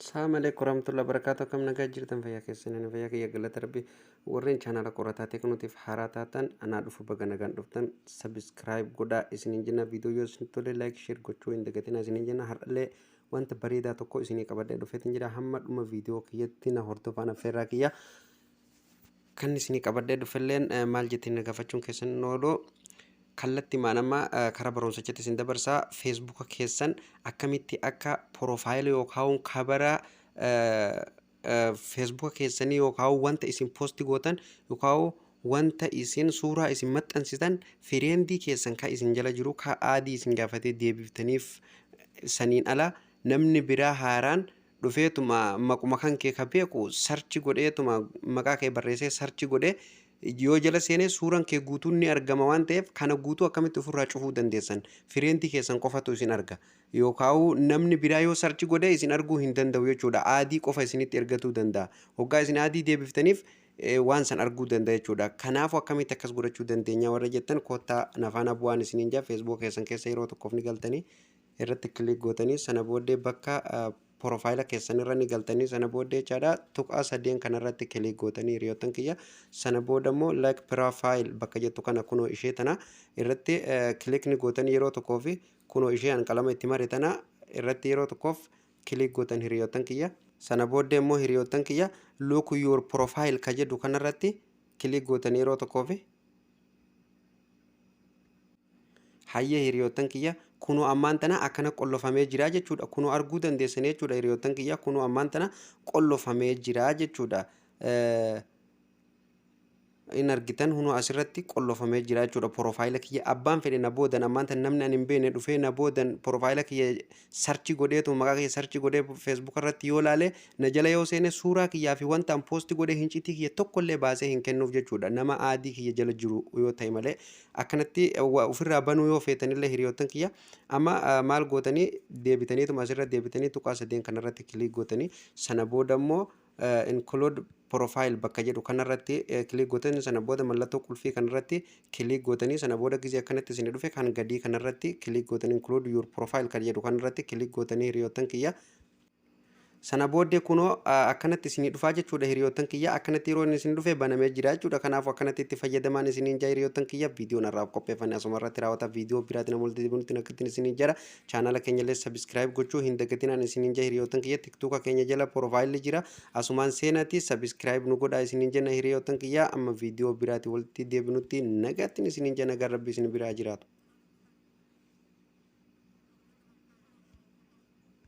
Saam aleeku warahmatullahi wabarakatuh akkam nagaa jirtan fayyaa keessan ani fayyaa kiyya galata rabbi warreen chaanaala qorataa teknootiif haaraa taatan anaa dhufu baga nagaan dhuftan sabiskiraayib godhaa isiniin jenna viidiyoo yoo isin tole laayik sheer gochuu hin dagatinaa isiniin jenna har'allee wanta bareedaa tokko isinii qabadhee dhufeetiin jira hamma dhuma viidiyoo kiyyatti na hordofaa na feerraa kiyya Kan isinii qabadhee dhufelleen maal jettiin na gaafachuun keessan hin oolu. Kallattimaan amma karaa barumsichatti isin dabarsaa feesbuuka keessan akkamitti akka porofaayila yookaan kabara feesbuuka keessanii yookaan wanta isin poosti gootan yookaan wanta isin suuraa isin maxxansitan fireendii keessan kan isin jala jiru kan aadii isin gaafatee deebiftaniif saniin ala namni biraa haaraan dhufeetuma maquma kankee ka beeku sarchi godheetuma maqaa kee barreessee sarchi godhee yoo jala seenee suuran kee guutuun ni argama waan ta'eef kana guutuu akkamitti ofirraa cufuu dandeessan fireentii keessan qofatu isin arga yookaa'uu namni biraa yoo sarchi godhee isin arguu hin danda'u jechuudha aadii qofa isinitti ergatuu danda'a hoggaa isin aadii deebiftaniif eh, waan san arguu danda'a jechuudha kanaafuu akkamitti akkas godhachuu dandeenya warra jettan koottaa nafaana bu'aan isiniin jaa feesbuuka keessan keessa yeroo tokkoof ni galtanii irratti click gootanii sana booddee bakka porofaayila keessan irra ni galtanii sana booddee jechaadha tuqaa sadeen kana irratti click gootanii hiriyoottan kiyya sana booda immoo like profile bakka jettu kana kunoo ishee tana irratti click ni gootan yeroo tokkoo fi kunoo ishee an qalama itti mare tana irratti yeroo tokkoof click gootan hiriyoottan kiyya sana booddee immoo hiriyoottan kiyya look your profile ka jedhu kana irratti click gootan yeroo tokkoo fi Hayyee hiriyoottan kiyya kunoo ammaan tana akkana qollofamee jira jechuudha. Kunoo arguu dandeessanii jechuudha hiriyoottan kiyya kunoo ammaan tana qollofamee jira jechuudha. Hin argitan hunoo asirratti qollofamee jira jechuudha porofaayila kiyya abbaan fedhe na boodan ammaan tana namni ani hin beekne dhufee na boodan porofaayila kiyya search godheetuma maqaa kiyya search godhee Facebook irratti yoo laale na jala yoo seene suuraa kiyyaa fi wanta an post godhe hinciitii kiyya tokko illee baasee hin kennuuf jechuudha nama aadii kiyya jala jiru yoo ta'e malee akkanatti wa- ofirraa banuu yoo feetanillee hiriyoottan kiyya amma ah, maal gootanii deebitaniituma asirra deebitanii tuqaa sadeen kanarratti kiliik gootanii sana booda immoo include profile bakka jedhu kanarratti click gootanii sana booda mallattoo qulfii kanarratti click gootanii sana booda gizee akkanatti isin dhufe kan gadii kanarratti click gootanii include your profile kan jedhu kanarratti click gootanii hiriyoottan kiyya sana booddee kunoo akkanatti isinii dhufaa jechuudha hiriyoottan kiyya akkanatti yeroo isin dhufe banamee jira jechuudha kanaafuu akkanatti itti fayyadamaan isiniin jaa hiriyoottan kiyya viidiyoon irraaf qopheeffame asuma irratti raawwata viidiyoo biraatiin ammoo itti deebinutti nakkatiin isiniin jara Chaanala keenyallee subscribe gochuu hin dagatinaan isiniin jaa hiriyootan kiyya tiktuka keenya jala profile jira asumaan seenati subscribe nu godhaa isiniin jenna hiriyootan kiyya amma viidiyoo biraati walitti deebinutti nagaattiin isiniin jaa nagaan rabbi isin biraa jiraatu.